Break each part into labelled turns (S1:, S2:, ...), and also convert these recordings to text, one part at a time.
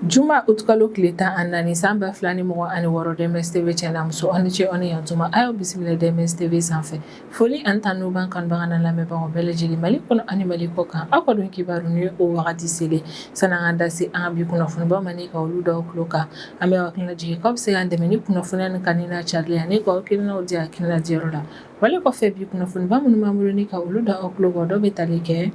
S1: Juma utkalo tile tan ani naani san ba fila ni mugan ani wɔɔrɔ DMS TV cɛ n'a muso aw ni ce aw ni yantuma a y'aw bisimila DMS TV sanfɛ foli ani tanu b'an kanubaga n'an lamɛnbagaw bɛɛ lajɛlen Mali kɔnɔ ani Mali kɔ kan aw ka don kibaru ni o wagati selen sani an k'an da se an ka bi kunnafonibaw ma ni ka olu da aw tulo kan an bɛ aw hakili lajigin k'aw bɛ se k'an dɛmɛ ni kunnafoniya ni kanuni n'a carili ye ani k'aw hakilinaw di hakilina diyɔrɔ la Wale kɔfɛ bi kunnafoniba minnu b'an bolo ni ka olu da aw tulo kan dɔ bɛ tali kɛ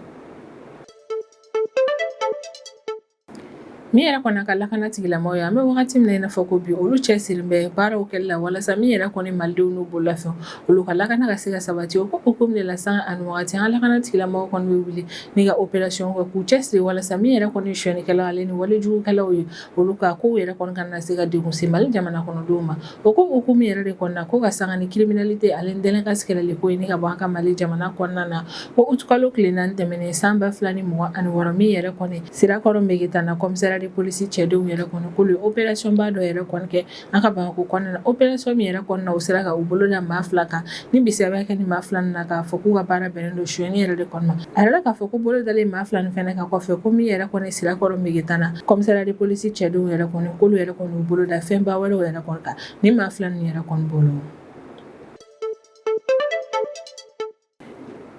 S1: min yɛrɛ kɔni an ka lakana tigilamɔgɔw ye an bɛ wagati min na i n'a fɔ ko bi olu cɛsirilen bɛ baaraw kɛli la walasa min yɛrɛ kɔni malidenw n'u bololafɛnw olu ka lakana ka se ka sabati o ko hukumu de la sanga ni wagati an ka lakana tigilamɔgɔw kɔni bɛ wuli ni ka opération kɛ k'u cɛsiri walasa min yɛrɛ kɔni ye sonyɛnikɛlaw ale ni walejugukɛlaw ye olu ka kow yɛrɛ kɔni kana se ka degun se Mali jamana kɔnɔdenw ma. O ko hukumu yɛrɛ de kɔnɔna ko ka sanga ni criminalité ale ni délinquance kɛlɛli ko ye ni ka bɔ an ka Mali jamana kɔnɔna na. Ko août kalo tile naani tɛmɛnen san 2026 min yɛrɛ kɔni Sirakɔrɔ Megetana commissariat de police cɛdenw yɛrɛ kɔni k'olu ye opération ba dɔ yɛrɛ kɔni kɛ An ka bamakɔ kɔnɔna na opération min yɛrɛ kɔni na u sera k'u bolo da maa fila kan ni bisigiya bɛ ka kɛ nin maa fila na k'a fɔ k'u ka baara bɛnnen don sonyɛni yɛrɛ de kɔni ma a yirala k'a fɔ ko bolo dalen maa fila nin fɛnɛ kan kɔfɛ ko min yɛrɛ kɔni sirakɔrɔ Megetana commissariat de police cɛdenw yɛrɛ kɔni k'olu yɛrɛ kɔni y'u bolo da fɛnba wɛrɛw yɛrɛ kɔni kan nin maa fila nin yɛrɛ kɔni bolo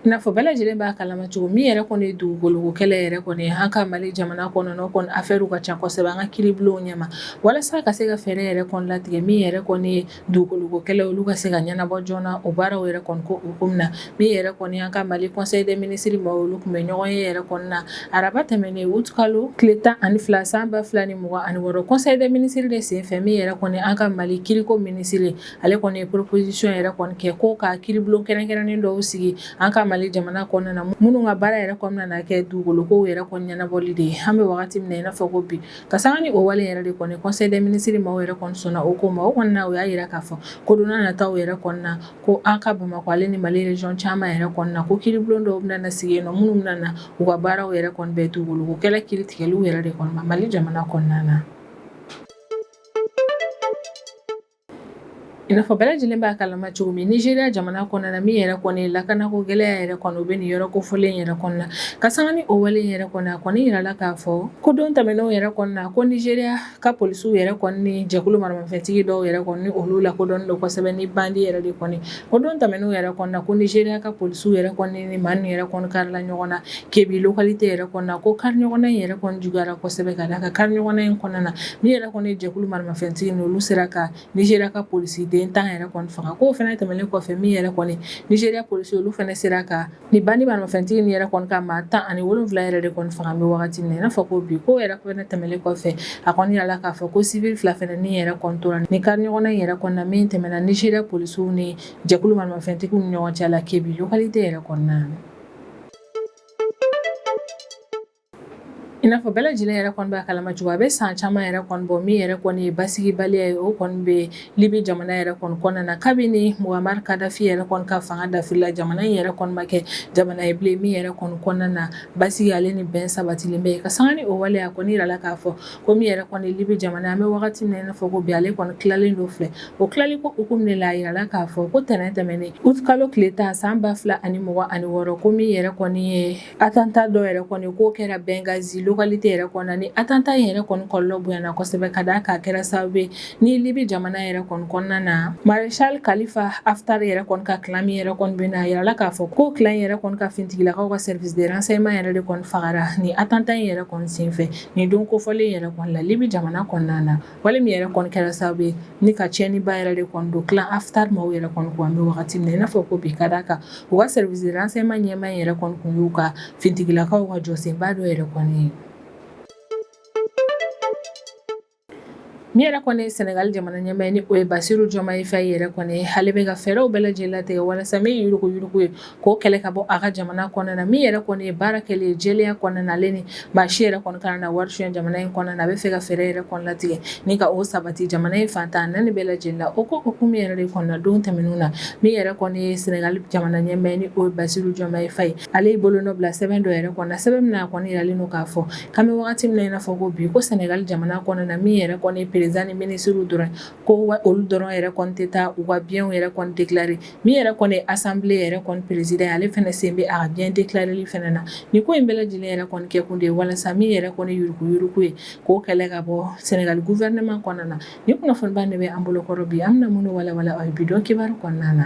S1: N'a fɔ bɛɛ lajɛlen b'a kalama cogo min yɛrɛ kɔni ye dugukolo kɛlɛ yɛrɛ kɔni an ka mali jamana kɔnɔ kɔni affaire u ka ca kosɛbɛ an ka kiiribulonw ɲɛma walasa ka se ka fɛɛrɛ yɛrɛ kɔni latigɛ min yɛrɛ kɔni ye dugukolo kɛlɛ olu ka se ka ɲɛnabɔ joona o baaraw yɛrɛ kɔni ko hukumu na min yɛrɛ kɔni an ka mali conseil des ministres maaw olu tun bɛ ɲɔgɔnye yɛrɛ kɔni na araba tɛmɛnen utkalo tile tan ani fila san ba fila ni mugan ani wɔɔrɔ conseil des ministres de senfɛ min yɛrɛ kɔni an ka mali kiriko minisiri ale kɔni ye proposition yɛrɛ kɔni kɛ ko ka kiiribulon kɛrɛnkɛrɛnnen dɔw sigi an ka mali jamana kɔnɔna na minnu ka baara yɛrɛ kɔni na na kɛ dugukolokow yɛrɛ kɔni ɲɛnabɔli de ye an bɛ wagati min na i n'a fɔ ko bi ka sanga ni o wale yɛrɛ de kɔni conseil des ministres maaw yɛrɛ kɔni sɔnna o ko ma o kɔni na o y'a yira k'a fɔ ko don nataw yɛrɛ kɔni na ko an ka bamakɔ ale ni mali région caman yɛrɛ kɔni na ko kiiribulon dɔw bɛna sigi yen nɔ minnu bɛna na u ka baaraw yɛrɛ kɔni bɛn dugukolo kɛlɛ kiiritigɛliw yɛrɛ de kɔni ma mali jamana kɔnɔna na N'a fɔ bɛɛ lajɛlen b'a kalama cogo min Nigeria jamana kɔnɔna na min yɛrɛ kɔni lakanako gɛlɛya yɛrɛ kɔni u bɛ nin yɔrɔ kofɔlen yɛrɛ kɔni na ka sanga ni o wale yɛrɛ kɔni a kɔni yirala k'a fɔ ko don tɛmɛnenw yɛrɛ kɔni na ko Nigeria ka polisiw yɛrɛ kɔni ni jɛkulu maramafɛntigi dɔw yɛrɛ kɔni ni olu lakodɔnnen don kosɛbɛ ni bandi yɛrɛ de kɔni O don tɛmɛnenw yɛrɛ kɔni na ko Nigeria ka polisiw yɛrɛ kɔni ni maa nin yɛrɛ kɔni karila ɲɔgɔn na Kebbi localité yɛrɛ kɔni na ko kari ɲɔgɔnna in yɛrɛ kɔni juguyara kosɛbɛ ka da a kan kari ɲɔgɔnna in kɔnɔna na min yɛrɛ kɔni jɛkulu maramafɛntigi nin olu sera ka Nigeria ka polisiden tan yɛrɛ kɔni faga ko fana tɛmɛnen kɔfɛ min yɛrɛ kɔni Nigeria polisi olu fana sera kan Ni bandi maramafɛntigi ni yɛrɛ kɔni ka maa tan ani wolonwula yɛrɛ de kɔni faga an bɛ wagati min na i n'a fɔ ko bi ko yɛrɛ fana tɛmɛnen kɔfɛ a kɔni yirala k'a fɔ ko civil fila fana ni yɛrɛ kɔni tora ni kariɲɔgɔnna in yɛrɛ kɔnɔna min tɛmɛna Nizeriya polisiw ni jɛkulu maramafɛntigiw ni ɲɔgɔn cɛ la Kebbi localité yɛrɛ kɔnɔna I n'a fɔ bɛɛ lajɛlen yɛrɛ kɔni b'a kalama cogo min, a bɛ san caman yɛrɛ kɔni bɔ min yɛrɛ kɔni ye basigibaliya ye, o kɔni bɛ Libi jamana yɛrɛ kɔni kɔnɔna na, kabini Mohamari Kadafi yɛrɛ kɔni ka fanga dafiri la, jamana in yɛrɛ kɔni ma kɛ jamana ye bilen min yɛrɛ kɔni kɔnɔna na, basigi ale ni bɛn sabatilen bɛ yen, ka sanga ni o wale ye, a kɔni yirala k'a fɔ ko min yɛrɛ kɔni ye Libi jamana ye, an bɛ wagati min na i n'a fɔ ko bi, ale kɔni tilalen don fila ye, o tilali ko hukumu de la, a yirala k'a fɔ ko tɛnɛn tɛmɛnen, août kalo tile tan san 2026 ko min yɛrɛ kɔni ye Atanta dɔ yɛrɛ kɔni k'o kɛra Bɛngazi localité yɛrɛ kɔnɔna ni atanta in yɛrɛ kɔni kɔlɔlɔ bonyana kosɛbɛ ka da kan a kɛra sababu ye ni Libi jamana yɛrɛ kɔni kɔnɔna na Maréchal Kalifa Haftar yɛrɛ kɔni ka clan min yɛrɛ kɔni bɛ yen a yirala k'a fɔ ko clan in yɛrɛ kɔni ka finitigilakaw ka service de renseignement yɛrɛ de kɔni fagara ni atanta in yɛrɛ kɔni senfɛ nin don kofɔlen yɛrɛ kɔni la Libi jamana kɔnɔna na Wale min yɛrɛ kɔni kɛra sababu ye ni ka tiɲɛniba yɛrɛ de kɔni don clan Haftar maaw yɛrɛ kɔni kun an bɛ wagati min na i n'a fɔ ko bi ka da kan u ka service de renseignement ɲɛmaa yɛrɛ kɔni tun y'u ka finitigilakaw ka jɔsenba dɔ yɛrɛ kɔni ye min yɛrɛ kɔni ye Senegali jamana ɲɛmaa ni o ye Basiru Jɔmaye Fayi yɛrɛ kɔni ale bɛ ka fɛɛrɛw bɛɛ lajɛlen latigɛ walasa min ye yuruguyurugu ye k'o kɛlɛ ka bɔ a ka jamana kɔnɔna na min yɛrɛ kɔni ye baara kɛlen ye jɛlenya kɔnɔna na ale ni maa si yɛrɛ kɔni kana na wari suɲɛ jamana in kɔnɔna na a bɛ fɛ ka fɛɛrɛ yɛrɛ kɔni latigɛ ni ka o sabati jamana in fan tan ni naani bɛɛ lajɛlen na o ko hukumu yɛrɛ de kɔnɔna na don tɛmɛnenw na min yɛrɛ kɔni ye Senegali jamana ɲɛmaa ni o ye Basiru Jɔmaye Fayi ale ye bolonɔ bila sɛbɛn dɔ yɛrɛ kɔnɔ sɛbɛn min na a kɔni yiralen don k'a fɔ k'an bɛ wagati min na i n'a fɔ ko bi ko Senegali jamana kɔnɔna na min yɛrɛ kɔni ye perezidan ni minisiriw dɔrɔn ko olu dɔrɔn yɛrɛ kɔni tɛ taa u ka biens yɛrɛ kɔni déclarer Min yɛrɛ kɔni asanbile yɛrɛ kɔni peresidan ye ale fana sen bɛ a ka bien déclareli fana na nin ko in bɛɛ lajɛlen yɛrɛ kɔni kɛ kun de ye walasa min yɛrɛ kɔni yuruguyurugu ye k'o kɛlɛ ka bɔ Senegali gouvernement kɔnɔna na ni kunnafoniba de bɛ an bolokɔrɔ bi an bɛna minnu walawala aw ye bi don kibaru kɔnɔna na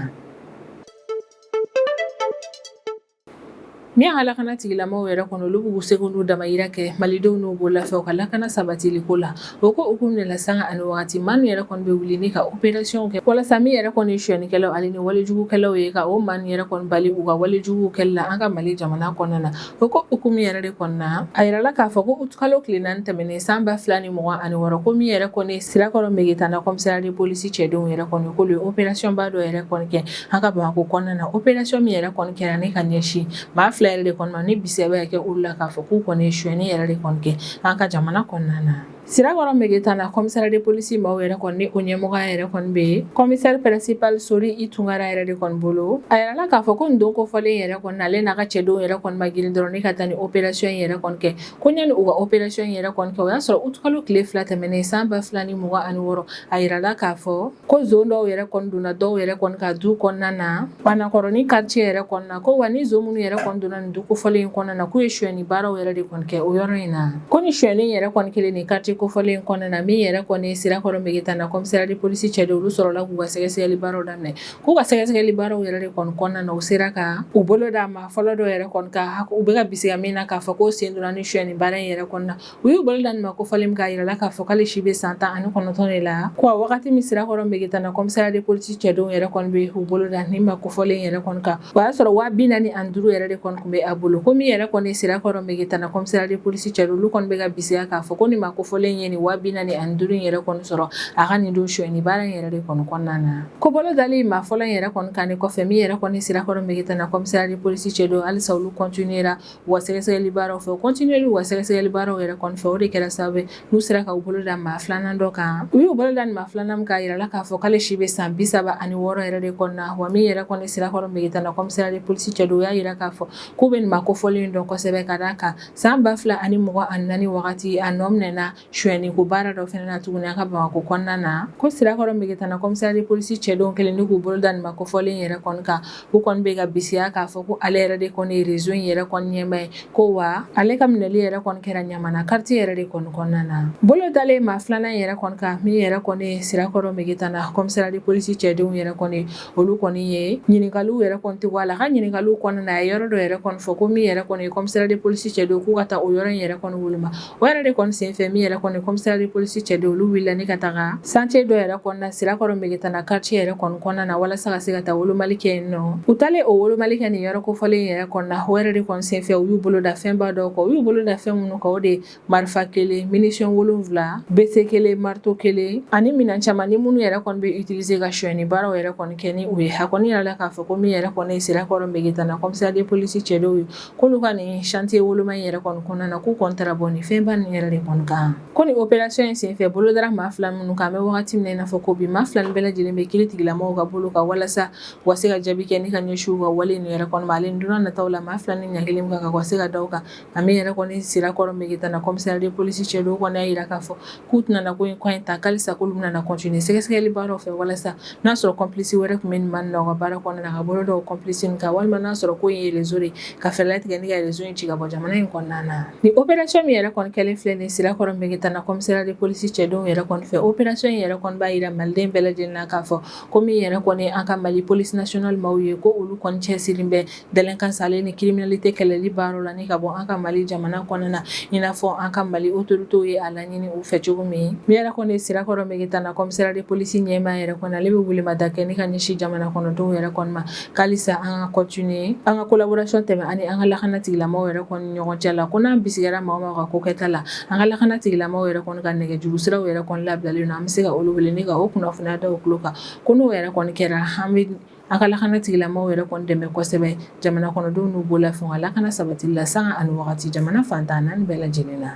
S1: Min ka lakana tigilamɔgɔw yɛrɛ kɔni olu b'u seko n'u damayira kɛ malidenw n'u bololafɛnw ka lakana sabatili ko la o ko hukumu de la sanga ani waati maa yɛrɛ kɔni bɛ wuli ni ka opérationw kɛ walasa min yɛrɛ kɔni suɲɛnikɛlaw ani ni walijugukɛlaw ye ka o maa nin yɛrɛ kɔni bali u ka walijugu kɛli la an ka mali jamana kɔnɔna na o ko hukumu yɛrɛ de kɔnɔna a yirala k'a fɔ ko utukalo tile naani tɛmɛnen san ba fila ni mugan ani wɔɔrɔ ko min yɛrɛ kɔni Sirakɔrɔ Megetana commissariat de police cɛdenw yɛrɛ kɔni k'olu ye opérationba dɔ yɛrɛ kɔni kɛ an ka bamakɔ kɔnɔna na opération min yɛrɛ kɔni kɛra ne ka ɲɛsin maa fila yɛrɛ de kɔnɔ ni bisigi bɛ kɛ olu la k'a fɔ k'u kɔni ye suyɛni yɛrɛ de kɔni kɛ an ka jamana kɔnɔna na sirakɔrɔ megetana commissariat de police maaw yɛrɛ kɔni ni o ɲɛmɔgɔya yɛrɛ kɔni bɛ yen commissaire principal sori i tunkara yɛrɛ de kɔni bolo a yirala k'a fɔ ko nin don kofɔlen yɛrɛ kɔni ale n'a ka cɛdenw yɛrɛ kɔni ma girin dɔrɔn ne ka taa nin opération in yɛrɛ kɔni kɛ ko ɲani u ka opération in yɛrɛ kɔni kɛ o y'a sɔrɔ utikalo tile fila tɛmɛnen san ba fila ni mugan ani wɔɔrɔ a yirala k'a fɔ ko zon dɔw yɛrɛ kɔni donna dɔw yɛrɛ kɔni ka du kɔnɔna na banakɔrɔni quartier yɛrɛ kɔnɔna ko wa ni zon minnu yɛrɛ kɔni donna nin du kofɔlen in kɔnɔna na k'u ye suyɛni baaraw yɛrɛ de kɔni kɛ o yɔrɔ in na ko ni suyɛni yɛrɛ kɔni kɛlen nin quartier kofɔlen in kɔnɔna na min yɛrɛ kɔni sirakɔrɔ megetana commissariat de police cɛdenw olu sɔrɔla k'u ka sɛgɛsɛgɛli baaraw daminɛ k'u ka sɛgɛsɛgɛli baaraw yɛrɛ de kɔni kɔnɔna na u sera ka u bolo da maa fɔlɔ dɔ yɛrɛ kɔni kan u bɛ ka bisigiya min na k'a fɔ k'o sen donna ni suyɛni baara in yɛrɛ kɔnɔna U y'u bolo da nin maa kofɔlen min kan a jirala k'a fɔ k'ale si bɛ san tan ani kɔnɔntɔn de la ko a wagati min sirakɔrɔ Megetana commissariat de police cɛdenw yɛrɛ kɔni bɛ u bolo da nin maa kofɔlen yɛrɛ kɔni kan o y'a sɔrɔ waa bi naani ani duuru yɛrɛ de kɔni tun bɛ a bolo ko min yɛrɛ kɔni sirakɔrɔ Megetana commissariat de police cɛdenw olu kɔni bɛ ka bisigiya k'a fɔ ko nin maa kofɔlen ye nin waa bi naani ani duuru in yɛrɛ kɔni sɔrɔ a ka nin don sonyali baara in yɛrɛ de kɔni kɔnɔna na ko bolo dalen maa fɔlɔ in yɛrɛ kɔni kan nin kɔfɛ min yɛrɛ kɔni sirakɔrɔ Megetana commissariat de police cɛdenw halisa olu continuera u ka sɛgɛsɛgɛli baaraw fɛ u continuelen u ka sɛgɛsɛgɛli baaraw yɛrɛ kɔni fɛ o de kɛra sababu n'u sera ka u bolo da maa filanan dɔ kan u y'u bolo da nin maa filanan min kan a jirala k'a fɔ k'ale si bɛ san bi saba ani wɔɔrɔ yɛrɛ de kɔnɔna wa min yɛrɛ kɔni sirakɔrɔ megetana commissariat de police cɛdenw y'a jira k'a fɔ k'u bɛ nin maa kofɔlen dɔn kosɛbɛ ka d'a kan san ba fila ani mugan ani naani wagati a nɔ minɛna Suyɛni ko baara dɔ fana na tuguni an ka Bamakɔ kɔnɔna na, ko sirakɔrɔ Megetana commissariat de police cɛdenw kɛlen don k'u bolo da nin ma kofɔlen yɛrɛ kɔni kan, u kɔni bɛ ka bisigiya k'a fɔ ko ale yɛrɛ de kɔni ye réseau in yɛrɛ kɔni ɲɛmaa ye, ko wa ale ka minɛli yɛrɛ kɔni kɛra Ɲamana quartier yɛrɛ de kɔni kɔnɔna na. Bolo dalen maa filanan in yɛrɛ kɔni kan, min yɛrɛ kɔni ye sirakɔrɔ Megetana commissariat de police cɛdenw yɛrɛ kɔni ye, olu kɔni ye ɲininkaliw yɛrɛ kɔni tɛ bɔ a la, a ka ɲininkaliw kɔnɔna na, a ye yɔrɔ dɔ yɛrɛ kɔni fɔ, ko min yɛrɛ kɔni ye commissariat de police cɛdenw ye k'u ka taa o yɔrɔ in yɛrɛ kɔni woloma. o yɛrɛ de kɔni senfɛ min yɛrɛ kɔni commissariat de police cɛdenw olu wulila ni ka taga chantier dɔ yɛrɛ kɔnɔna sirakɔrɔ megetana quartier yɛrɛ kɔni kɔnɔna na walasa ka se ka taa wolomali kɛ yen nɔ u taalen o wolomali kɛ nin yɔrɔ kofɔlen yɛrɛ kɔnɔna o yɛrɛ de kɔni senfɛ u y'u bolo da fɛnba dɔw kan u y'u bolo da fɛn minnu kan o de ye marifa kelen munition wolonwula bese kelen marito kelen ani minan caman ni minnu yɛrɛ kɔni bɛ utiliser ka sonyani baaraw yɛrɛ kɔni kɛ ni u ye a kɔni yirala k'a fɔ ko min yɛrɛ kɔni ye sirakɔrɔ megetana commissariat de police cɛdenw ye k'olu ka nin chantier woloma in yɛrɛ kɔni kɔnɔna na k'u kɔni taara bɔ nin fɛnba nin yɛrɛ de kɔni kan ko nin opération in senfɛ bolo dara maa fila minnu kan an bɛ wagati min na i n'a fɔ ko bi maa fila nin bɛɛ lajɛlen bɛ kiiri tigilamɔgɔw ka bolo kan walasa u ka se ka jaabi kɛ ne ka ɲɛsin u ka wale nin yɛrɛ kɔni ma ale don nataw la maa fila ni ɲaga kelen kan ka wa se ka da u kan a min yɛrɛ kɔni sirakɔrɔ megetana commissariat de police cɛdenw kɔni y'a jira k'a fɔ k'u tɛna na ko in kɔ in ta halisa k'olu bɛna na continuer sɛgɛsɛgɛli baaraw fɛ walasa n'a sɔrɔ complice wɛrɛ tun bɛ nin maaw la u ka baara kɔnɔna na ka bolo da o complice ninnu kan walima n'a sɔrɔ ko in ye réseau de ye ka fɛɛrɛ latigɛ ni ka réseau in ci ka bɔ jamana in kɔnɔna na nin opération min yɛrɛ kɔni kɛlen filɛ nin ye Sirakɔrɔ Mɛgɛtana commissariat de police cɛdenw yɛrɛ kɔni fɛ opération in yɛrɛ kɔni b'a jira maliden bɛɛ lajɛlen na k'a fɔ ko min yɛrɛ kɔni ye an ka Mali police nationale maaw ye ko olu kɔni cɛsirilen bɛ Délinquance ani criminalité kɛlɛli baara la ka bɔ an ka mali jamana kɔnɔna na i n'a fɔ an ka mali autorités ye a laɲini u fɛ cogo min min yɛrɛ kɔni sirakɔrɔ Mɛgɛtana commissariat de police ɲɛmaa yɛrɛ kɔni ale bɛ welemada kɛ ni ka ɲɛsin jamana kɔnɔdenw yɛrɛ kɔni ma halisa an ka continuer an ka collaboration tɛmɛn an ni an ka lakana tigilamaaw yɛrɛ kɔni ɲɔgɔn cɛ la ko n'an bisigila maa o maa ka ko kɛta la an ka lakana tigilamaaw yɛrɛ kɔni ka nɛgɛjuru siraw yɛrɛ kɔni labilalen don an bɛ se ka olu wele ni ka o kunnafoniya da u tulo kan ko n'o yɛrɛ kɔni kɛra an bɛ An ka lakana tigilamɔgɔw yɛrɛ kɔni dɛmɛ kosɛbɛ jamana kɔnɔdenw n'u bolofɛnw lakana sabatili la sanga ani wagati jamana fantan naani bɛɛ lajɛlen na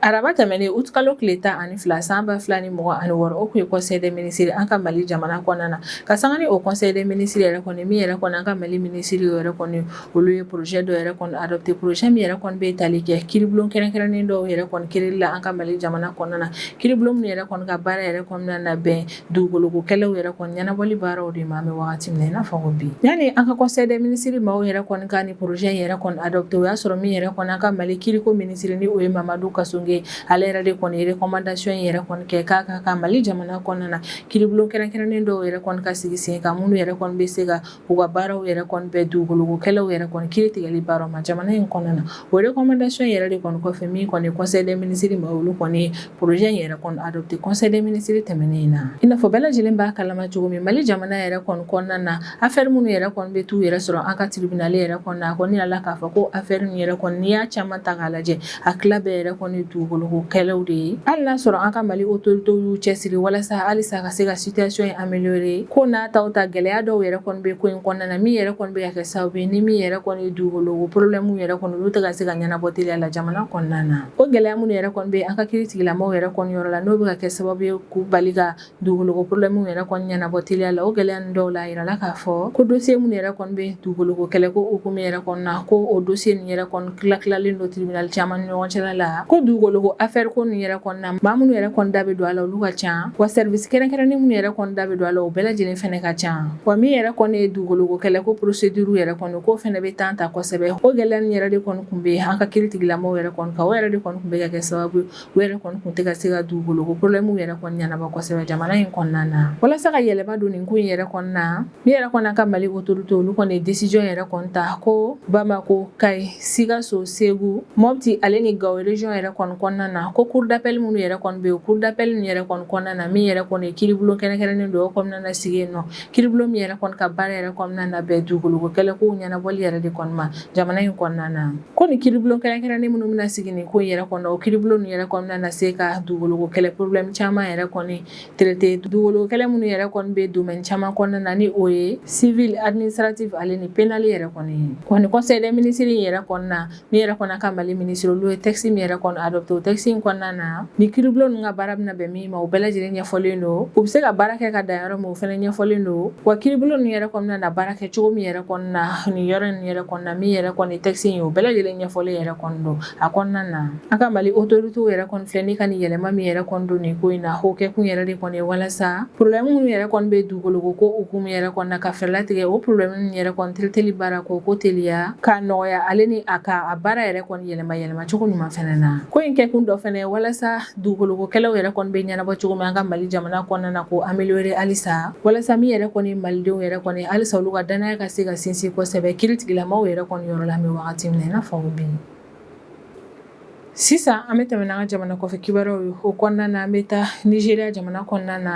S1: araba tɛmɛnen août kalo tile tan ani fila san ba fila ni mugan ani wɔɔrɔ o tun ye conseil des ministres an ka mali jamana kɔnɔna na ka san o conseil des ministres yɛrɛ kɔni min yɛrɛ kɔni an ka mali minisiriw yɛrɛ kɔni olu ye projet dɔ yɛrɛ kɔni adopté projet min yɛrɛ kɔni bɛ tali kɛ kiiribulon kɛrɛnkɛrɛnnen dɔw yɛrɛ kɔni kɛli la an ka mali jamana kɔnɔna na kiiribulon min yɛrɛ kɔni ka baara yɛrɛ kɔni na na bɛn dugukoloko kɛlɛw yɛrɛ kɔni ɲɛnabɔli baaraw de ma an bɛ wagati min na i n'a fɔ ko bi yanni an ka conseil des ministres maaw yɛrɛ kɔni ka nin projet in yɛrɛ kɔni adopté o y'a sɔrɔ min yɛrɛ kɔni an ka mali kiiriko minisiri ni o ye mamadu kasoge ale yɛrɛ de kɔni ye recommandation in yɛrɛ kɔni kɛ k'a ka kan mali jamana kɔnɔna na kiiribulon kɛrɛnkɛrɛnnen dɔw yɛrɛ kɔni ka sigi sen kan minnu yɛrɛ kɔni bɛ se ka u ka baaraw yɛrɛ kɔni bɛn dugukoloko kɛlɛw yɛrɛ kɔni kiiri tigɛli baara ma jamana in kɔnɔna na o recommandation yɛrɛ de kɔni kɔfɛ min kɔni conseil des ministres maaw olu kɔni projet in yɛrɛ kɔni adopté conseil des ministres tɛmɛnen in na i n'a fɔ bɛɛ lajɛlen b'a kalama cogo min mali jamana yɛrɛ kɔni kɔnɔna na affaire minnu yɛrɛ kɔni bɛ t'u yɛrɛ sɔrɔ an ka tribunal yɛrɛ kɔnɔ a kɔni yirala k'a fɔ ko affaire yɛrɛ kɔni n'i y'a caman ta k'a lajɛ a tila bɛɛ yɛrɛ kɔni ye dugukoloko kɛlɛw de ye hali n'a sɔrɔ an ka mali autorités y'u cɛsiri walasa halisa ka se ka situation in améliorer k'o n'a ta o ta gɛlɛya dɔw yɛrɛ kɔni bɛ ko in kɔnɔna na min yɛrɛ kɔni bɛ ka kɛ sababu ye ni min yɛrɛ kɔni ye dugukoloko problème yɛrɛ kɔni olu tɛ ka se ka ɲɛnabɔ teliya la jamana kɔnɔna na o gɛlɛya minnu yɛrɛ kɔni bɛ an ka kiri tigilamɔgɔw yɛrɛ kɔni yɔrɔ la n'o bɛ ka kɛ sababu ye k'u bali dugukoloko problème yɛrɛ kɔni ɲɛnabɔ teliya la o gɛlɛya ninnu dɔw la a yirala k'a fɔ ko dossier minnu yɛrɛ kɔni bɛ dugukoloko kɛlɛko hukumu yɛrɛ kɔnɔna ko o dossier nin yɛrɛ kɔni tilatilalen don tribunal caman ni ɲɔgɔn cɛla la ko dugukoloko affaire ko nin yɛrɛ kɔnɔna maa minnu yɛrɛ kɔni da bɛ don a la olu ka ca wa service kɛrɛnkɛrɛnnen minnu yɛrɛ kɔni da bɛ don a la o bɛɛ lajɛlen fana ka ca wa min yɛrɛ kɔni ye dugukoloko kɛlɛko procédure yɛrɛ kɔni k'o fana bɛ temps ta kosɛbɛ o gɛlɛya nin yɛrɛ de kɔni tun bɛ an ka kiri tigilamɔgɔw yɛrɛ kɔni kan o yɛrɛ de kɔni tun bɛ ka kɛ sababu ye U yɛrɛ kɔni tun tɛ ka se ka dugukolo ko problème yɛrɛ ɲɛnabɔ kosɛbɛ jamana in kɔnɔna na walasa ka yɛlɛma don nin ko in yɛrɛ kɔnɔna na min yɛrɛ kɔni an ka mali autorité olu kɔni ye décision yɛrɛ kɔni ta ko bamakɔ kayi sikaso segu mɔti ale ni gawo région yɛrɛ kɔnɔna na ko cour d'appel minnu yɛrɛ kɔni bɛ yen cour d'appel ninnu yɛrɛ kɔnɔna na min yɛrɛ kɔni kiiribulon kɛrɛnkɛrɛnnen dɔw kɔni bɛna na sigi yen n'o kiiribulon ninnu yɛrɛ kɔni ka baara yɛrɛ kɔni bɛna na bɛn dugukolo kɛlɛ ko ɲɛnabɔli yɛrɛ de kɔni ma jamana in kɔnɔna na Ko ni kiiribulon kɛrɛnkɛrɛnnen minnu bɛna sigi nin ko in yɛrɛ kɔnɔ, o kiiribulon ninnu yɛrɛ kɔni bɛna na se ka dugukolo ko kɛlɛ problème caman yɛrɛ kɔni traiter dugukolo ko kɛlɛ minnu yɛrɛ kɔni bɛ domaine caman kɔnɔna na ni o ye civil, administratif ale ni pénal yɛrɛ kɔni ye. Wa nin conseil des ministres in yɛrɛ kɔnɔna, min yɛrɛ kɔni an ka Mali ministre olu ye texte min yɛrɛ kɔni adopter o texte in kɔnɔna na, ni kiiribulon ninnu ka baara bɛna bɛn min ma o bɛɛ lajɛlen ɲɛfɔlen don u bɛ se ka baara kɛ ka dan yɔrɔ min o fɛnɛ ɲɛfɔlen don wa kiiribulon ninnu yɛrɛ kɔni bɛna na baara kɛ cogo min yɛrɛ kɔnɔna nin yɔrɔ in yɛrɛ kɔnɔna min yɛrɛ kɔni texte in o bɛɛ lajɛlen ɲɛfɔlen yɛrɛ kɔni don a kɔnɔna na an ka mali autorité yɛrɛ kɔni filɛ nin ka nin yɛlɛma min yɛrɛ kɔni don nin ko in na o kɛ kun yɛrɛ de kɔni ye walasa problème minnu yɛrɛ kɔni bɛ dugukolo ko hukumu yɛrɛ kɔnɔna ka fɛɛrɛ latigɛ o problème ninnu yɛrɛ kɔni traiteli baara ko k'o teliya k'a nɔgɔya ale ni a ka a baara yɛrɛ kɔni yɛlɛma yɛlɛmacogo ɲuman fɛnɛ na ko in kɛ kun dɔ fɛnɛ walasa Dugukolo ko kɛlɛw yɛrɛ kɔni bɛ ɲɛnabɔ cogo min an ka Mali jamana kɔnɔna na k'o améliorer halisa walasa min yɛrɛ kɔni ye malidenw yɛrɛ kɔni ye halisa olu ka danaya ka se ka sinsin kosɛbɛ kiiritigɛlamaw yɛrɛ kɔni yɔrɔ la an bɛ wagati min na i n'a fɔ ko bi sisan an bɛ tɛmɛ n'an ka jamana kɔfɛ kibaruyaw ye o kɔnɔna na an bɛ taa Nizeriya jamana kɔnɔna na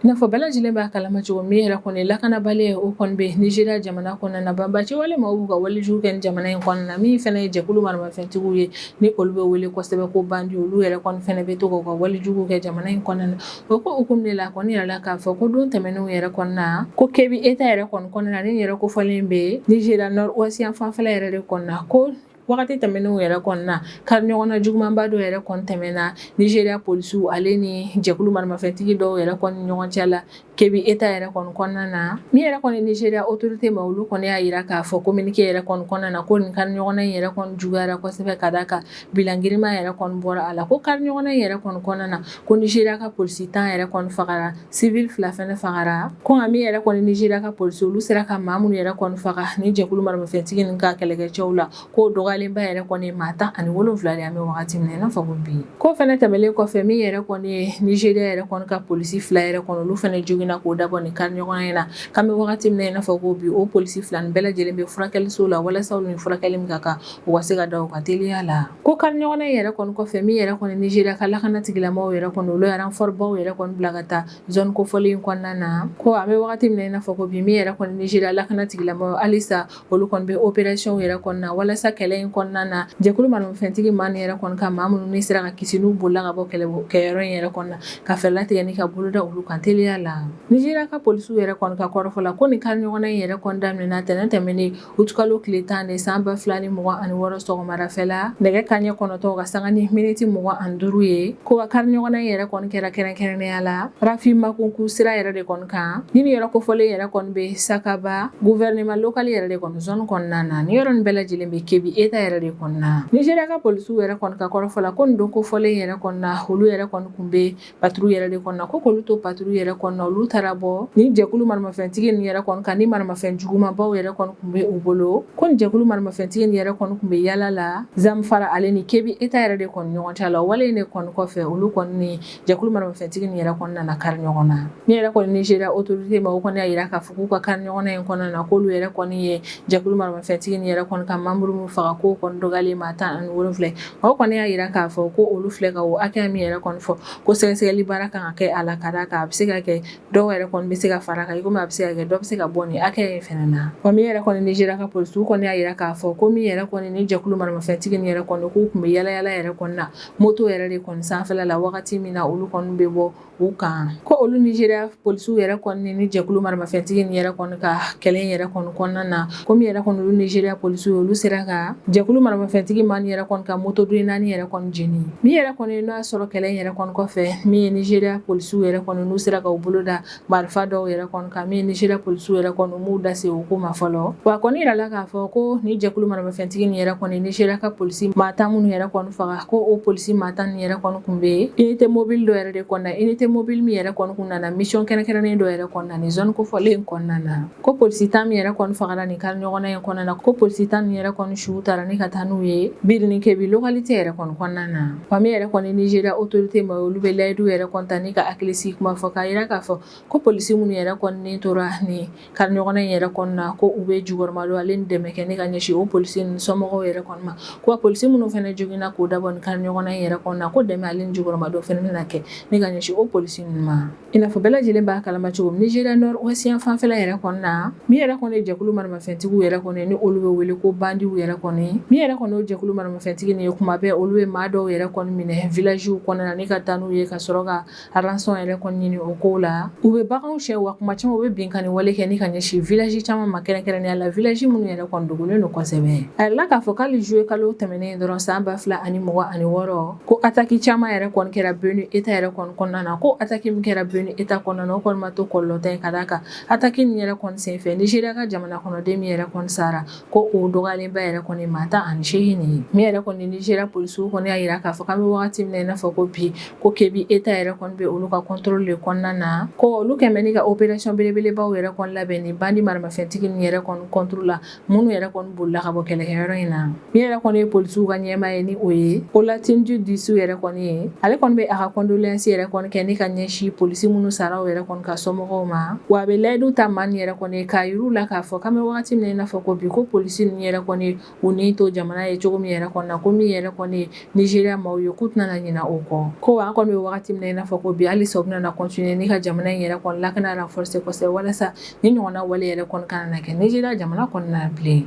S1: N'afɔ bɛɛ lajɛlen b'a kalama cogo min yɛrɛ kɔni lakanabaliya o kɔni bɛ Nizeriya jamana kɔnɔna na banbaanci wale maaw b'u ka walijugu kɛ jamana in kɔnɔna na min fɛnɛ ye jɛkulu maramafɛntigiw ye ni olu bɛ wele kosɛbɛ ko bandi olu yɛrɛ fɛnɛ bɛ to ka walijugu kɛ jamana in kɔnɔna na o ko hukumu de la a kɔni yirala k'a fɔ ko don tɛmɛnenw yɛrɛ kɔnɔna na ko Kebbi État yɛrɛ kɔnɔna na ni yɔrɔ kofɔlen bɛ Nizeriya nord yan fanfɛla yɛrɛ de kɔnɔna na ko Wagati tɛmɛnenw yɛrɛ kɔnɔna na kari ɲɔgɔnna jugumanba dɔ yɛrɛ kɔni tɛmɛna Nizeriya polisiw ale ni jɛkulu maramafɛntigi dɔw yɛrɛ kɔni ɲɔgɔn cɛ la Kebbi État yɛrɛ kɔni kɔnɔna na min yɛrɛ kɔni Nizeriya autorité maa olu kɔni y'a jira k'a fɔ communiqué yɛrɛ kɔni kɔnɔna na ko nin kari ɲɔgɔnna in yɛrɛ kɔni juguyara kosɛbɛ ka da a kan bilan girinma yɛrɛ kɔni bɔra a la ko kari ɲɔgɔnna in yɛrɛ kɔni kɔnɔna na ko Nizeriya ka polisi tan yɛrɛ kɔni fagara civil fila fɛnɛ fagara ko nka min yɛrɛ kɔni nizeriya ka polisi olu sera ka maa minnu yɛrɛ kɔni faga ni jɛkulu maramafɛntigi nin ka kɛlɛkɛcɛw la k'o dɔgɔyalenba yɛrɛ kɔni ye maa tan ani wolonfila de an bɛ wagati min na i n'a fɔ ko bi ko fɛnɛ tɛmɛlen kɔfɛ min yɛrɛ kɔni ye nizeriya yɛrɛ kɔni ka polisi fila yɛrɛ kɔni olu fɛnɛ joginna k'o dabɔ nin kari ɲɔgɔnna in na k'an bɛ wagati min na i n'a fɔ ko bi o polisi fila nin bɛɛ lajɛlen bɛ furakɛliso la walasa olu ni furakɛli min ka kan u ka se ka da o kan teliya la Ko kari ɲɔgɔnna in yɛrɛ kɔni kɔfɛ min yɛrɛ kɔni Nizeriya ka lakana tigilamaw yɛrɛ kɔni olu ye renfort baw yɛrɛ kɔni bila ka taa zone kofɔlen in kɔnɔna na ko an bɛ wagati min na i n'a fɔ ko bi min yɛrɛ kɔni Nizeriya lakana tigilamaw halisa olu kɔni bɛ opération yɛrɛ kɔnɔna na walasa kɛlɛ in kɔnɔna na jɛkulu maramafɛntigi maa nin yɛrɛ kɔni ka maa minnu ni sera ka kisi n'u bolila ka bɔ kɛlɛ kɛyɔrɔ in yɛrɛ kɔnɔ ka fɛɛrɛ latigɛ ni ka boloda olu kan teliya la Nizeriya ka polisiw yɛrɛ kɔni ka kɔrɔfɔ la ko nin kari ɲɔgɔnna in yɛrɛ kɔni daminɛna tɛnɛn tɛmɛnen Utikalo tile tan de san ba fila ni mugan ani wɔɔrɔ sɔgɔmadafɛla nɛgɛ kanɲɛ kɔnɔtɔ ka sanga ni miniti mugan ani duuru ye ko ka kari ɲɔgɔnna in yɛrɛ kɔni kɛra kɛrɛnkɛrɛnnenya la Rafin Makuku sira yɛrɛ de kɔni kan ni nin yɔrɔ kofɔlen yɛrɛ kɔni bɛ Sakaba gouvernement local yɛrɛ de kɔni zone kɔnɔna na ni yɔrɔ in bɛɛ lajɛlen bɛ Kebbi État yɛrɛ de kɔnɔna Nizeriya ka polisiw yɛrɛ kɔni ka kɔrɔfɔ la ko nin don kofɔlen yɛrɛ kɔnɔna olu yɛrɛ kɔni kun bɛ patrouille yɛrɛ de kɔnɔna ko k'olu to patrouille yɛrɛ kɔnɔna olu taara bɔ ni jɛkulu maramafɛntigi nin yɛrɛ kɔni kan ni maramafɛn jugumanbaw yɛrɛ kɔni kun bɛ u bolo ko nin jɛkulu maramafɛntigi nin yɛrɛ kɔni kun bɛ yala la Zamfara ale ni Kebbi État yɛrɛ de kɔni ɲɔgɔn cɛ la wale in de kɔni kɔfɛ olu kɔni ni jɛkulu maramafɛntigi nin yɛrɛ kɔni nana kari ɲɔgɔn na min yɛrɛ kɔni Nizeriya autorité maaw kɔni y'a yira k'a fɔ k'u ka kari ɲɔgɔnna in kɔnɔna na k'olu yɛrɛ kɔni ye jɛkulu maramafɛntigi nin yɛrɛ kɔni ka membre min faga k'o kɔni dɔgɔyalen maa tan ani wolonwula O kɔni y'a yira k'a fɔ ko olu filɛ ka o hakɛya min yɛrɛ kɔni fɔ ko sɛgɛsɛgɛli baara kan ka kɛ a la ka d'a kan a bɛ se ka kɛ dɔw yɛrɛ kɔni bɛ se ka fara kan i komi a bɛ se ka kɛ dɔ bɛ se ka bɔ nin hakɛya in fana na wa min yɛrɛ kɔni Nizeriya ka polisiw kɔni y'a yira k'a fɔ ko min yɛrɛ kɔni ni jɛkulu maramafɛntigi nin yɛrɛ kɔni k'u kun bɛ yalayala yɛrɛ kɔni na moto yɛrɛ de kɔni sanfɛla la wagati min na olu kɔni bɛ bɔ U kan ko olu Nizeriya polisiw yɛrɛ kɔni ni jɛkulu maramafɛntigi nin yɛrɛ kɔni ka kɛlɛ yɛrɛ kɔni kɔnɔna na ko min yɛrɛ kɔni olu Nizeriya polisiw olu sera ka jɛkulu maramafɛntigi maa nin yɛrɛ kɔni ka moto den naani yɛrɛ kɔni jeni min yɛrɛ kɔni n'o y'a sɔrɔ kɛlɛ yɛrɛ kɔni kɔfɛ min ye Nizeriya polisiw yɛrɛ kɔni n'u sera ka u bolo da marifa dɔw yɛrɛ kɔni kan min ye Nizeriya polisiw yɛrɛ kɔni m'u da se o ko ma fɔlɔ wa kɔni yirala k'a fɔ ko ni jɛkulu maramafɛntigi nin yɛrɛ kɔni Nizeriya ka polisi maa tan minnu yɛrɛ kɔni faga Ko o polisi maa tan nin yɛrɛ kɔni kun bɛ unité mobile dɔ yɛrɛ de kɔnɔna unité mobile min yɛrɛ kɔni kun nana mission kɛrɛnkɛrɛnnen dɔ yɛrɛ kɔnɔna ni zone kofɔlen in kɔnɔna na ko polisi tan min yɛrɛ kɔni fagara nin kari ɲɔgɔnna in kɔnɔna na ko polisi tan nin yɛrɛ kɔni su taara ni ka taa n'u ye Birnin Kebbi localité yɛrɛ kɔni kɔnɔna na wa min yɛrɛ kɔni Nizeriya autorité maaw olu bɛ layidu yɛrɛ kɔni ta ni ka hakilisigi kuma fɔ k'a yira k'a fɔ ko polisi minnu yɛrɛ kɔni tora ni kari ɲɔgɔnna in yɛrɛ kɔnɔna na ko u bɛ jukɔrɔmadon ale ni dɛmɛ kɛ ni ka ɲɛsin o polisi nin somɔgɔw yɛrɛ kɔni ma ko polisi minnu fana joginna k'o dabɔ kari ɲɔgɔnna in yɛrɛ kɔnɔna na ko dɛmɛ ale ni jukɔrɔmadon fana bɛna kɛ ni ka ɲɛsin o polisi ninnu ma i n'a fɔ bɛɛ lajɛlen b'a kalama cogo min Nizeriya nord ouest fanfɛla yɛrɛ kɔnɔna na min yɛrɛ kɔni jɛkulu maramafɛntigiw yɛrɛ kɔni ni olu bɛ wele ko bandiw yɛrɛ kɔni min yɛrɛ kɔni o jɛkulu maramafɛntigi nin ye kuma bɛɛ olu bɛ maa dɔw yɛrɛ kɔni minɛ villagew kɔnɔna na ni ka taa n'u ye ka sɔrɔ ka Rançon yɛrɛ kɔni ɲini o ko la u bɛ baganw cɛ wa kuma caman u bɛ binkanni wale kɛ ni ka ɲɛsin village caman ma kɛrɛnkɛrɛnnenya la village minnu yɛrɛ kɔni dogolen don kosɛbɛ a jirala k'a fɔ k'ali juillet kalo tɛmɛnen dɔrɔn san ba fila ani mugan ani wɔɔrɔ ko ataki caman yɛrɛ kɔni kɛra Benue État yɛrɛ kɔni kɔnɔna na ko ataki min kɛra Benue État kɔnɔna na o kɔni ma to kɔlɔlɔntan ye ka da a kan ataki nin yɛrɛ kɔni senfɛ Nigeria ka jamana kɔnɔden min yɛrɛ kɔni sara ko o dɔgɔyalenba yɛrɛ kɔni maa tan ani seegin nin ye min yɛrɛ kɔni Nigeria polisiw kɔni y'a jira k'a fɔ k'an bɛ wagati min na i n'a fɔ ko bi ko Kebbi État yɛrɛ kɔni bɛ olu ka contrôle de kɔnɔna na ko olu kɛmɛ bɛ ni ka opération belebelebaw yɛrɛ kɔni labɛn ni bandi maramafɛntigi nin yɛrɛ kɔni contre la minnu yɛrɛ kɔni bolila ka bɔ kɛlɛkɛyɔrɔ in na min yɛrɛ kɔni ye polisiw ka ɲɛmaa ye ni o ye Olatunji Disu yɛrɛ kɔni ye ale kɔni bɛ a ka condoléances yɛrɛ kɔni kɛ ni ka ɲɛsin polisi minnu saraw yɛrɛ kɔni ka somɔgɔw ma wa a bɛ layidu ta maa nin yɛrɛ kɔni ye k'a jir'u la k'a fɔ k'an bɛ waati min na i n'a fɔ ko bi ko polisi nin yɛrɛ kɔni y'u ni to jamana ye cogo min yɛrɛ kɔni na ko min yɛrɛ kɔni Nigeria maaw ye k'u tɛna ɲina o kɔ ko an kɔni bɛ waati min na i n'a fɔ ko bi hali sa u bɛna continuer ni ka jamana in yɛrɛ kɔni lakana renforcer kosɛbɛ walasa nin ɲɔgɔnna wale yɛrɛ kɔni kana na kɛ Nigeria jamana kɔnɔna bilen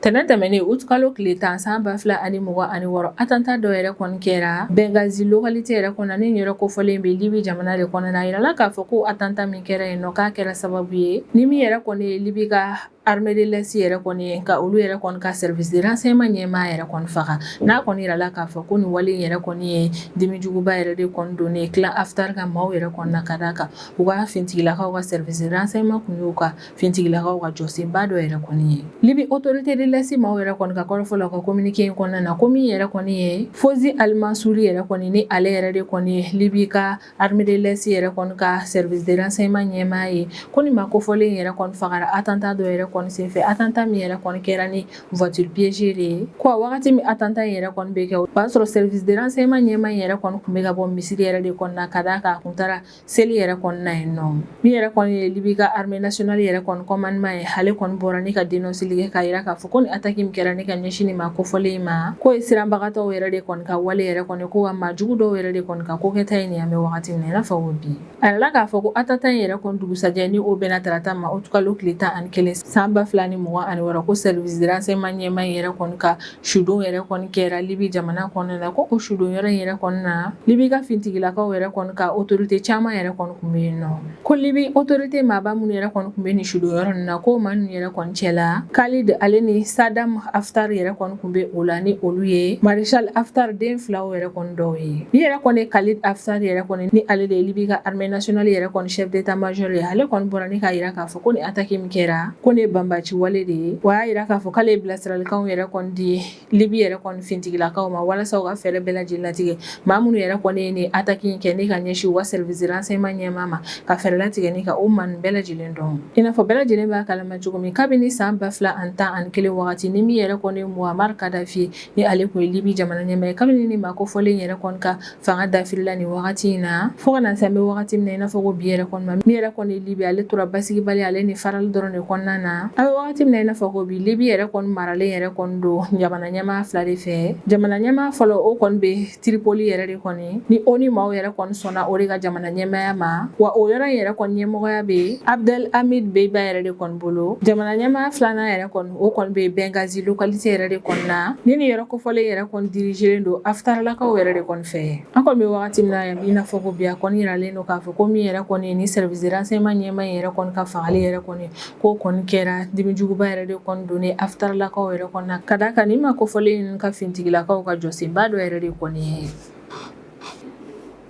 S1: Tɛnɛn tɛmɛnen uti kalo tile tan san ba fila ani mugan ani wɔɔrɔ atanta dɔ yɛrɛ kɔni kɛra Benghazi localité yɛrɛ kɔnɔna nin yɔrɔ kofɔlen bɛ libi jamana de kɔnɔ a jirala k'a fɔ ko atanta min kɛra yen k'a kɛra sababu ye ni min yɛrɛ kɔni ye libi ka armée de l'Est yɛrɛ kɔni ye ka olu yɛrɛ kɔni ka service de renseignement ɲɛmaa yɛrɛ kɔni faga n'a kɔni jirala k'a fɔ ko nin wale yɛrɛ kɔni ye dimi juguba yɛrɛ de kɔni don clan Haftar ka maaw yɛrɛ kɔni na ka d' a kan u ka fintigilakaw ka service de renseignement tun y'u ka Finitigilakaw ka jɔsenba dɔ yɛrɛ kɔni ye Libi autorité de l'Est maaw yɛrɛ kɔni ka kɔrɔfɔ la ka communiqué in kɔnɔna na ko min yɛrɛ kɔni ye Fawzi Al-Mansouri yɛrɛ kɔni ni ale yɛrɛ de kɔni ye Libi ka armée de l'Est yɛrɛ kɔni ka service de renseignement ɲɛmaa ye ko nin maa kofɔlen yɛrɛ kɔni fagara atanta dɔ yɛrɛ kɔni senfɛ atanta min yɛrɛ kɔni kɛra ni voiture piégée de ye ko wagati min atanta yɛrɛ kɔni bɛ kɛ o b'a sɔrɔ service de renseignement ɲɛmaa yɛrɛ kɔni tun bɛ ka bɔ misiri yɛrɛ de kɔnɔna na ka d'a kan a kun taara Seli yɛrɛ kɔni na yen nɔ min yɛrɛ kɔni ye libi ka armée nationale yɛrɛ kɔni commandement ye ale kɔni bɔra ni ka denɔnseli kɛ k'a jira k'a fɔ ko nin ataki min kɛra ni ka ɲɛsin maa kofɔlen in ma k'o ye siranbagatɔw yɛrɛ de kɔni ka wale yɛrɛ kɔni ye ko wa maa jugu dɔw yɛrɛ de kɔni ka ko kɛta ye nin an bɛ wagati min na i n'a fɔ ko bi a jirala k'a fɔ ko atanta in yɛrɛ kɔni dugusɛjɛ ni o bɛnna tarata ma uti kalo tile tan ani kelen san ba fila ani mugan ani wɔɔrɔ ko service de renseignement ɲɛmaa yɛrɛ kɔni ka sudon yɛrɛ kɔni kɛra libi jamana kɔnɔna la ko o sudon yɔrɔ yɛrɛ kɔni na libi ka fintigilakaw yɛrɛ kɔni ka autorité caman yɛrɛ kɔni tun bɛ yen nɔ ko libi autorité maaba minnu yɛrɛ kɔni tun bɛ nin sudon yɔrɔ in na ko maa ninnu yɛrɛ kɔni cɛ la Khalid ale ni Saddam Haftar yɛrɛ kɔni tun bɛ o la ni olu ye maréchal Haftar den filaw yɛrɛ kɔni dɔw ye ni yɛrɛ kɔni Khalid Haftar yɛrɛ kɔni ni ale de ye libi ka armée nationale yɛrɛ kɔni chef d'état-major ye ale kɔni bɔra ni k'a jira k'a fɔ ko ni ataki min kɛra ko nin banbaanci wale de ye wa y'a jira k'a fɔ k'ale bilasiralikan yɛrɛ kɔni di libi yɛrɛ kɔni fintigilakaw ma walasa u ka fɛɛrɛ bɛɛ lajɛlen latigɛ maa minnu yɛrɛ kɔni ye ni ataki in kɛ ni ka ɲɛsin o service de renseignement ɲɛmaa ma ka fɛɛrɛ latigɛ ni ka o maa bɛɛ lajɛlen dɔn i n'a fɔ bɛɛ lajɛlen b'a kalama cogo min kabini san ba fila ani tan ani kelen wagati ni min yɛrɛ kɔni muammar kadafi ni ale tun ye libi jamana ɲɛmaa ye kabini nin maa kofɔlen yɛrɛ kɔni ka fanga dafirila nin wagati in na fo ka na se an bɛ wagati min na i n'a fɔ ko bi yɛrɛ kɔni ma min yɛrɛ kɔni ye libi ale tora basigibali ale ni farali dɔrɔn de kɔnɔna na an bɛ wagati min na i n'a fɔ ko bi libi yɛrɛ kɔni maralen yɛrɛ kɔni don jamana ɲɛmaa fila de fɛ jamana ɲɛmaa fɔlɔ o kɔni bɛ tiripoli yɛrɛ de kɔni ni ONU maaw yɛrɛ kɔni sɔnna o de ka jamana ɲɛmaya ma wa o yɔrɔ in yɛrɛ kɔni ɲɛmɔgɔya bɛ abdel hamid dbeiba yɛrɛ de kɔni bolo jamana ɲɛmaya filanan yɛrɛ kɔni O kɔni bɛ Benghazi localité yɛrɛ de kɔni na, ni nin yɔrɔ kofɔlen yɛrɛ kɔni dirigerlen don Haftarlakaw yɛrɛ de kɔni fɛ, an kɔni bɛ wagati min na i n'a fɔ ko bi, a kɔni jiralen don k'a fɔ ko min yɛrɛ kɔni ye nin service de renseignement ɲɛmaa in yɛrɛ kɔni ka fagali yɛrɛ kɔni k'o kɔni kɛra dimi juguba yɛrɛ de kɔni donna Haftarlakaw yɛrɛ kɔni na, ka d'a kan nin maa kofɔlen in ka fintigilakaw ka jɔsenba dɔ yɛrɛ de kɔni ye.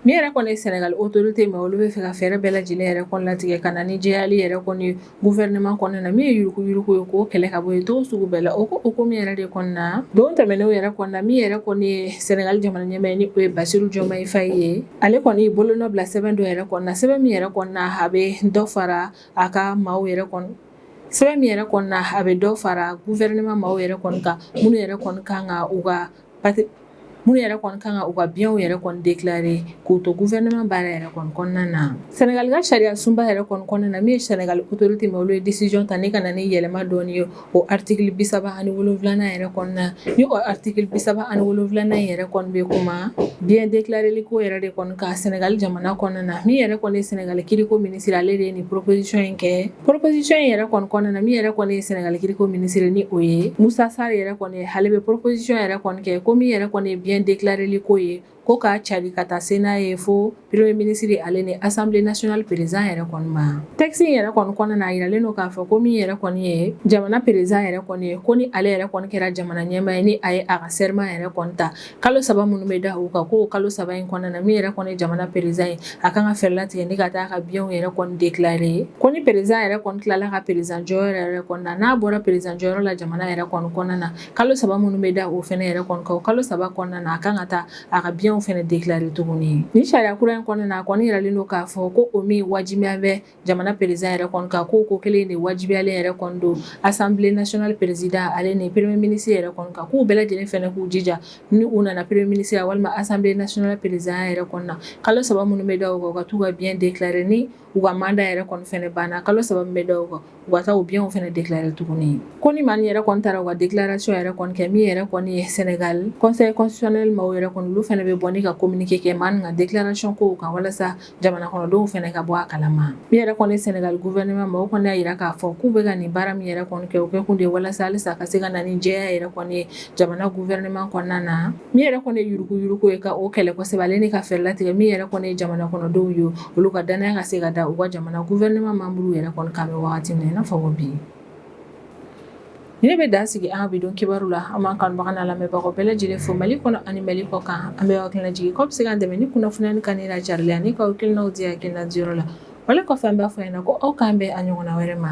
S1: Min yɛrɛ kɔni ye sɛnɛgali autorité maaw olu bɛ fɛ ka fɛɛrɛ bɛɛ lajɛlen yɛrɛ kɔni latigɛ ka na ni jɛyali yɛrɛ kɔni gouvernement kɔnɔna na min ye yurugu yurugu ye k'o kɛlɛ ka bɔ yen cogo sugu bɛɛ la o ko o ko min yɛrɛ de kɔni na don tɛmɛnenw yɛrɛ kɔni na min yɛrɛ kɔni ye sɛnɛgali jamana ɲɛmaa ye ni o ye Bassirou Diomaye Faye ye ale kɔni ye bolonɔ bila sɛbɛn dɔ yɛrɛ kɔni na sɛbɛn min yɛrɛ kɔni na a bɛ dɔ fara a ka maaw yɛrɛ kɔni sɛbɛn min yɛrɛ kɔni na a bɛ dɔ fara gouvernement maaw yɛrɛ kɔni kan minnu yɛrɛ kɔni ka kan u ka Maa minnu yɛrɛ kɔni kan ka u ka biyanw yɛrɛ kɔni déclarer k'u to gouvernement baara yɛrɛ kɔni kɔnɔna na sɛnɛgali ka sariya sunba yɛrɛ kɔni kɔnɔna na min ye sɛnɛgali autorité maaw olu ye décision ta ni ka na ni yɛlɛma dɔɔni ye o article bi saba ani wolonwulanan yɛrɛ kɔnɔna na ni o article bi saba ani wolonwulanan yɛrɛ kɔni bɛ kuma biyan déclarer ko yɛrɛ de kɔni kan sɛnɛgali jamana kɔnɔna na min yɛrɛ kɔni ye sɛnɛgali kiiriko minisiri ale de ye nin proposition in kɛ Proposition in yɛrɛ kɔni kɔnɔna na min yɛrɛ kɔni ye Sénégal kiriko ministre ni o ye Moussa Sarr yɛrɛ kɔni ye ale bɛ proposition yɛrɛ kɔni kɛ ko min yɛrɛ kɔni ye bien déclarerli ko ye ko k'a cari ka taa se n'a ye fo premier ministre ale ni assemblée nationale président yɛrɛ kɔni ma texte in yɛrɛ kɔni kɔnɔna na a yiralen don k'a fɔ ko min yɛrɛ kɔni ye jamana président yɛrɛ kɔni ye ko ni ale yɛrɛ kɔni kɛra jamana ɲɛmaa ye ni a ye a ka serment yɛrɛ kɔni ta kalo saba minnu bɛ da u kan ko kalo saba in kɔnɔna na min yɛrɛ kɔni ye jamana perezan ye a kan ka fɛɛrɛ latigɛ ni ka taa a ka biyanw yɛrɛ kɔni dekilare ye ko ni perezan yɛrɛ kɔni tilala ka perezan jɔyɔrɔ yɛrɛ kɔni na n'a bɔra perezan jɔyɔrɔ la jamana yɛrɛ kɔni kɔnɔna na kalo saba minnu bɛ da o fana yɛrɛ kɔni kan o kalo saba kɔnɔna na a kan ka taa a ka biyanw fana dekilare tuguni ni sariya kura in kɔnɔna na a kɔni yiralen don k'a fɔ ko o min wajibiya bɛ jamana président yɛrɛ kɔni kan ko ko kelen de wajibiyalen yɛrɛ kɔni don assemblée nationale président ale ni premier ministre yɛrɛ kɔni kan k'u bɛɛ lajɛlen fana k'u jija ni u nana premier ministre walima assemblée nationale président yɛrɛ kɔni na kalo saba minnu bɛ da u kan u ka taa u ka bien déclarer ni u ka mandat yɛrɛ kɔni banna kalo saba bɛ da u kan u ka taa u bienw fana déclarer tuguni ye ko ni maa yɛrɛ kɔni taara u ka déclaration yɛrɛ kɔni kɛ min yɛrɛ kɔni ye sɛnɛgali conseil constitutionnel maaw yɛrɛ kɔni olu fana bɛ bɔ ni ka communiqué kɛ maa nin ka déclaration ko kan walasa jamana kɔnɔdenw fana ka bɔ a kalama min yɛrɛ kɔni sɛnɛgali gouvernement maaw kɔni y'a jira k'a fɔ k'u bɛ ka nin baara min yɛrɛ kɔni kɛ o kɛ kun de walasa halisa ka se ka na ni jɛya yɛrɛ kɔni ye jamana gouvernement kɔnɔna na min yɛrɛ kɔni ye yuruku yuruku ye ka o kɛlɛ kosɛbɛ ale ni ka fɛɛrɛ latigɛ min yɛrɛ kɔni ye jamana kɔnɔdenw ye olu ka danaya ka se ka da u ka jamana gouvernement membre yɛrɛ kɔni kan bɛ wagati min na i n'a fɔ ko bi Ne bɛ dan sigi an ka bidon kibaru la an b'an kanubagaw n'an lamɛnbagaw bɛɛ lajɛlen fo mali kɔnɔ ani mali kɔ kan an bɛ hakilina jigin k'aw bɛ se k'an dɛmɛ ni kunnafoni nin kanuni n'a carili ye ani k'aw hakilinaw di hakilina diyɔrɔ la wale kɔfɛ an b'a fɔ ɲɛna ko aw k'an bɛn a ɲɔgɔnna wɛrɛ ma